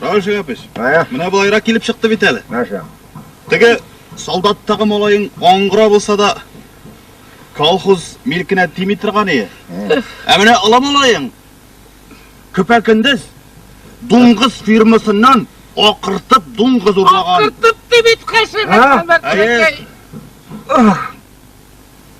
Равил Шәяпич, Ә? менә болайрак килеп чыкты бит әле. Нәрсә? Теге солдаттагы малаең аңгыра булса да, колхоз милкенә тими торган ие. Ә менә олы малаең көпә-көндез дуңгыз фирмасыннан акыртып дуңгыз урлаган. Кыртып дибит кайсы. Ә? Әйе.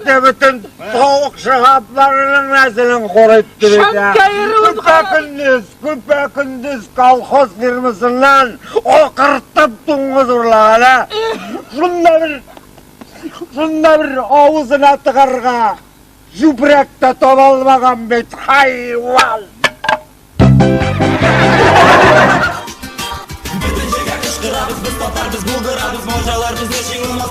Дә бөтен тавык шагапларының нәселен корып тирәдә. Күпә көндез, күпә көндез колхоз фирмасыннан акыртып туңгыз урлагана. Шунда бер шунда бер авызына тыгарга җүбрәк тә таба алмаган бит хайван. Бөтен җиргә кычкырабыз, без татарбыз, булдырабыз, морҗаларбыз, яши алмас,